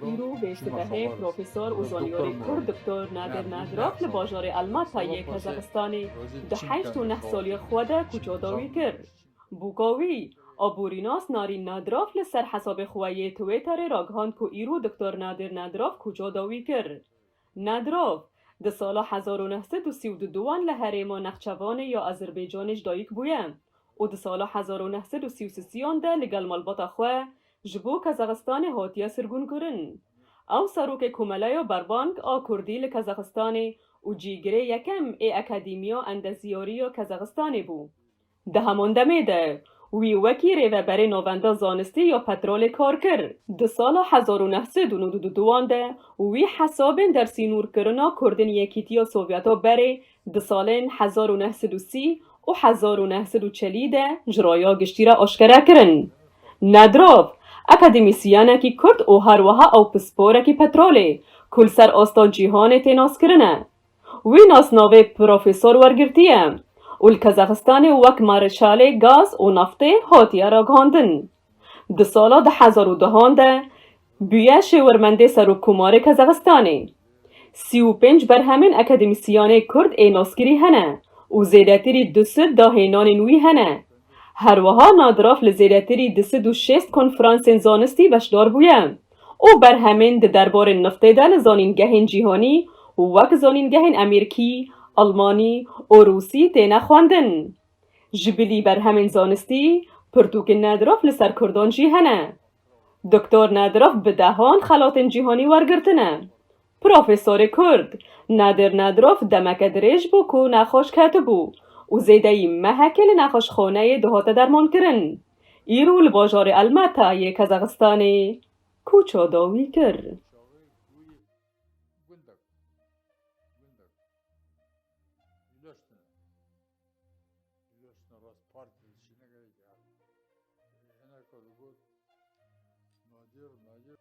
Îrojê sibehê profesor û zanîyarê kurd Doktor Nadir Nadirov li bajarê Almatayê Kazaxistanê di heşt û neh salî xwe de koça dawî kir. Boka wî, aborînas Narîn Nadirov li ser hesabê xwe yê Twitterê ragihand ku îro Doktor Nadir Nadirov kuca dawî kir. Nadirov, di sala hezar û neh sed û sî û du duwan li herêma Nexçevanê ya Azerbaycanê ji dayik bûye û di sala hezar û neh sed û sî û sisiyan de li gel malbata xwe ji bo Kazaxistanê hatiye sirgûnkirin. Ew serokê Komeleya Berbank a Kurdî li Kazaxistanê û cîgirê yekem ê Akademiya Endeziyarî ya Kazaxistanê bû. Di heman demê de wî wekî rêveberê Navenda Zanistî ya Petrolê kar kir. Di sala hezar û neh sed û nod û du duwan de wî hesabên dersînûrkirina kurdên Yekîtiya Sovyeta berê di salên hezar û neh sed û sî û hezar û neh sed û çelî de ji raya giştî re aşkere kirin. Nedrav, akademîsyenekî kurd û her wiha ew pisporekî petrolê ku li ser asta cîhanê tê naskirin e. Wî nasnavê profesor wergirtiye û li Kazaxistanê wek marêşalê gaz û naftê hatiye ragihandin. Di sala du hezar û duhan de bûye şêwirmendê Serokkomarê Kazaxistanê. Sî û pênc berhemên akademîsyanê kurd ê naskirî hene û zêdetirî du sid dahênanên wî hene. Herwiha Nadraf li zêdetirî du sid û şêst konfransên zanistî beşdar bûye. û berhemên di derbarê niftê de li zanîngehên cîhanî wek zanîngehên Emirkî, Elmanî û Rûsî têne xwendin. Ji bilî berhemên zanistî pirtûkên Nedirov li ser kurdan jî hene. Doktor Nedirov bi dehan xelatên cîhanî wergirtine Profesorê Kurd, Nadir Nadirov demeke dirêj bû ku nexweş ketibû û zêdeyî mehekê li nexweşxaneyê dihote dermankirin. Îro li bajarê Almata yê Kazaxistanê kûça dawî kir. Losna rast parti dişi ne gerek her. Hena kadı got. Nadir, nadir.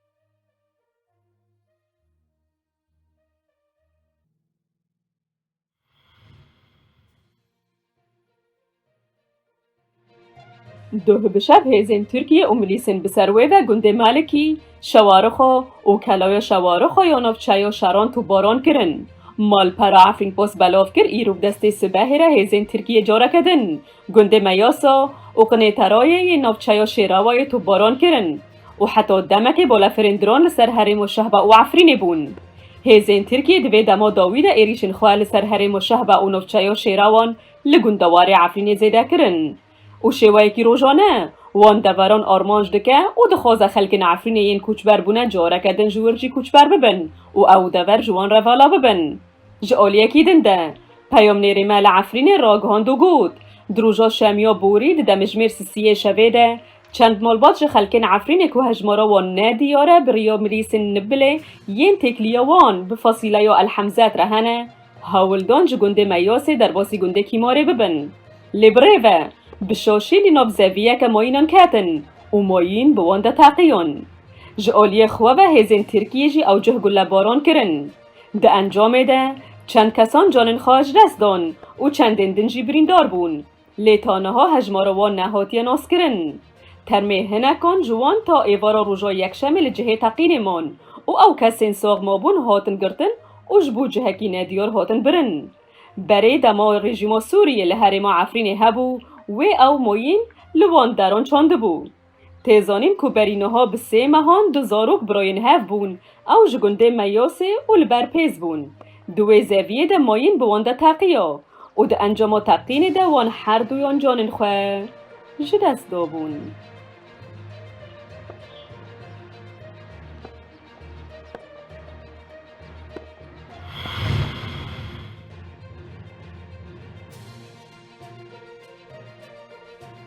Duh bi şev hêzên Tirkiyê û milîsên bi ser wê ve gundê Melikî, Şewarixo û Keloya Şewarixo ya navçeyê ya Şeran topbaran kirin. Malpera Efrînpost belav kir îro bi destê sibehê re hêzên Tirkiyê careke din gundê Meyasa û Qinêterayê yê navçeya Şêrawayê topbaran kirin û heta demekê balefirên dron li ser herêma Şehba û Efrînê bûn. Hêzên Tirkiyê di vê dema dawî de êrîşên xwe li ser herêma Şehba û navçeya Şêrawan li gundewarê Efrînê zêde kirin û şêweyekî rojane wan deveran armanc dike û dixwaze xelkên Efrînê yên koçber bûne careke din ji wir jî koçber bibin û ew dever ji wan re vala bibin. Ji aliyekî din de peyamnêrê me li Efrînê ragihand û got, Di roja şemiya borî di demijmêr sisiyê şevê de çend malbat ji xelkên Efrînê ku hejmara wan ne diyar e bi riya mirîsên Nibbilê yên têkiliya wan bi fasîleya El Hemzet re hene, Hawildan ji gundê Meyasê derbasî gundê Kîmarê bibin. Lê birêv e. Bi şaşî li nav zeviyeke mayînan ketin û mayîn bi wan de teqiyan. Ji aliyê xwe ve hêzên Tirkiyê jî ewcih gulebaran kirin. Di encamê de çend kesan canên xwe ji dest dan û çendên din jî birîndar bûn. Lê ta niha hejmara wan nehatiye naskirin. Termê hinekan ji wan ta êvara roja yekşemê li cihê teqînê man û ew kesên sax mabûn hatin girtin û ji bo cihekî nediyar hatin birin. Berê dema rejîma Sûriyê li herêma Efrînê hebû wê ew moyîn li wan deran çandibû. Tê zanîn ku berî niha bi sê mehan du zarok birayên hev bûn. Ew ji gundê Meyasê û li ber Pêz bûn. Di wê zeviyê de mayîn bi wan de teqiya û di encama teqînê de wan her duyan canên xwe ji dest dabûn.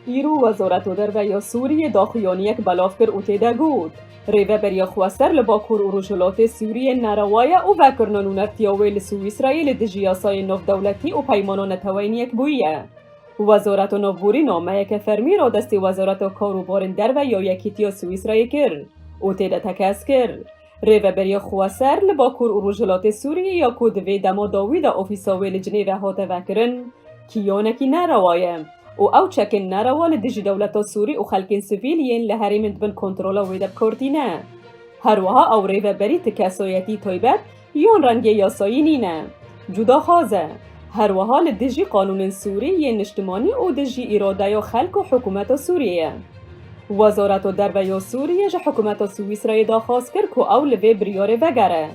Îro Wezareta Derve ya Sûriyê daxuyaniyek belav kir û tê de got, Rêveberiya xweser li Bakur û Rojhilatê Sûriyê nerewa ye û vekirina nûnertiya wê li Swîsrayê li dijî yasayên navdewletî û peymana neteweyî yek bûyiye. Wezareta Navborî nameyeke fermî radestî Wezareta Kar û Barên Derve ya Yekîtiya Swîsrayê kir û tê de tekez kir, Rêveberîya Xweser li Bakur û Rojhilatê Sûriyê ya ku di vê dema dawî de ofîsa wê li cinê ve hate vekirin, kîyanekî nerewa ye û ew çekên nerewa li dijî dewleta Sûrî û xelkên sivîl yên li herêmên di bin kontrola wê de bikordîne. Herwiha ew rêveberî ti kesayetî taybet yan rengê yasayî nîne. Cuda xaz e. Her wiha li dijî qanûnên Sûrî yên niştimanî û dijî îradeya xelk û hikûmeta Sûriyê ye. Wezareta Derve ya Sûriyê ji hikûmeta Swîsrayê daxwaz kir ku ew li vê biryarê vegere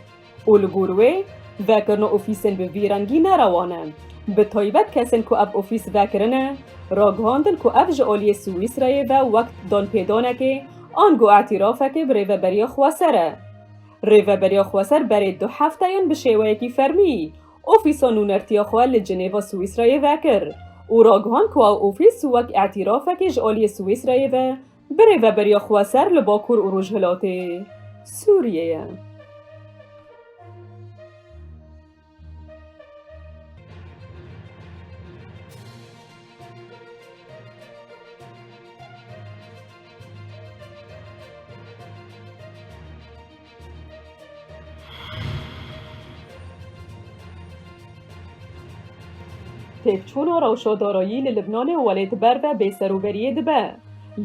û li gor wê, vekirina ofîsên bi vî rengî ne rewa ne. Bi taybet kesên ku ev ofîs vekirine, ragihandin ku ev ji aliyê Swîsrayê ve wek danpêdanekê ango îtîrafekê bi rêveberiya xweser e. Rêveberiya Xweser berê du hefteyan bi şêweyekî fermî ofîsa nûnertiya xwe li Cinêva Swîsreyê vekir û ragihand ku ew ofîs wek îtîrafekê ji aliyê Swîsreyê ve bi Rêveberiya Xweser li Bakur û Rojhilatê Sûriyeyê. Têkçûna rewşedarayî li Libnanê welê ti ber ve bêserûberiyê dibe.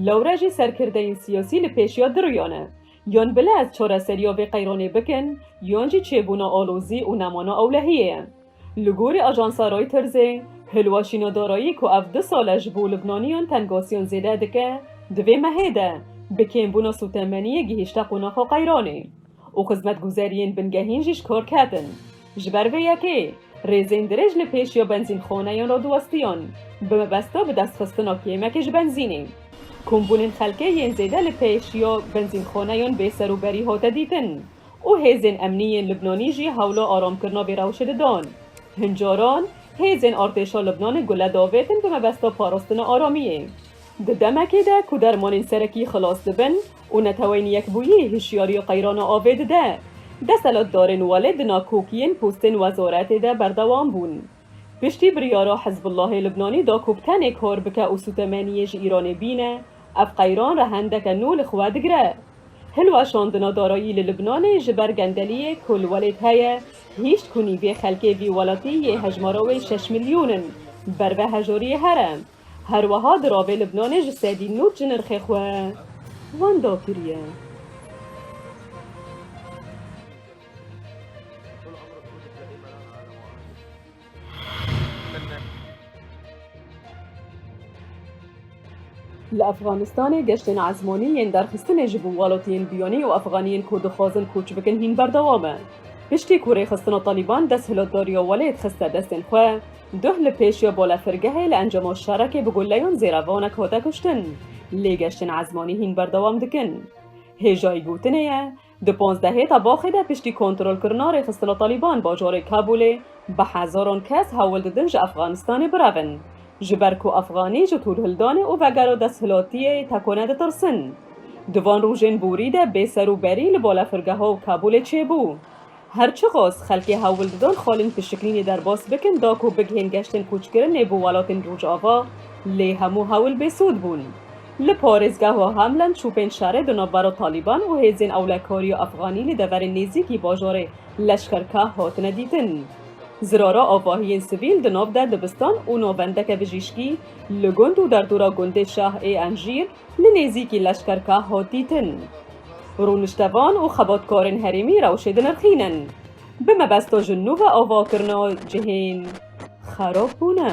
Lewre jî serkirdeyên siyasî li pêşiya diriya ne. Yon bile ez çoreseriya vê qeyranê bikin, yon jî çêbûna alozî û nemana ewlehiyê ye. Li gorî ajansa Reutersê, hilweşîna darayî ku ev du sal e ji bo lubnaniyan tengasiyan zêde dike, di vê mehê de bi kêmbûna sotemeniyê gihîşte qonaxa qeyranê û xizmetguzeriyên bingehîn jî ji kar ketin. Ji ber vê yekê, rêzên dirêj li pêş ya benzînxaneyên re diwestiyan, bi mebesta bidestxistina kêmekê ji benzînê. Kombûnên xelkê yên zêde li pêş ya benzînxaneyan bêserûberî hate dîtin û hêzên emnî yên Libnanî jî hewla aramkirina vê rewşê didan. Hin caran, hêzên artêşa Libnanê gule davêtin bi mebesta parastina aramiyê. Di demekê de ku dermanên serekî xilas dibin û neteweyên yekbûyî hişyariya qeyrana avê dide, deselatdarên welê di nakokiyên postên wezaretê de berdewam bûn. Piştî biryara Hizbullahê Libnanî da ku bi tenê kar bike û sûtemeniyê ji Îranê bîne, ev qeyran rehendeke nû li xwe digire. Hilweşandina darayî li Libnanê ji ber gendeliyê ku li welêt heye, hîşt ku nîvê xelkê vî welatî yê hejmara wê şeş milyon in, ber ve hejariyê here. Herweha di ravê Libnanê ji sedî nû çi nirxê xwe wenda kiriye. Li Efxanistanê geştên ezmanî yên derxistinê ji bo welatiyên biyanî û efxaniyên ku dixwazin koç bikin hîn berdewam e. Piştî ku rêxistina Talîban desthilotdariya welêt xiste destên xwe, Duh li pêşiya balefirgehê li encama şerekê bi guleyan zêrevanek hate kuştin. Lê geştên ezmanî hîn berdewam dikin. Hêjayî gotinê ye, di panzdehê tebaxê de piştî kontrolkirina rêxistina Talîban bajarê Kabûlê bi hezaran kes hewl didin ji Efxanistanê birevin. Ji ber ku Efxanî ji tûrhildanê û vegera desthilatiyê tekone ditirsin. Di van rojên borî de bêser û berî li balefirgeha Kabûlê çêbû. Her çiqas xelkê hewl didon xalên pişiklînê derbas bikin da ku bigihên geştên kûçkirinê bo welatên Rojava, lê hemû hewl bêsûd bûn. Li parêzgeha Hamlin çûpên şerê di navbera Talîban û hêzên ewlekariya Efxanî li deverên nêzîkî bajarê Leşkerkah hatine dîtin. Zirara avahiyên sivîl di nav de dibistan û navendeke bijîşkî li gund û derdora gundê Şah ê Enjîr, Li nêzîkî leşkerka Hotî tin. Rûniştevan û xebatkarên herêmî rewşê dinirxînin. Bi mebesto ji nû ve avakirina cihên xerab bûne.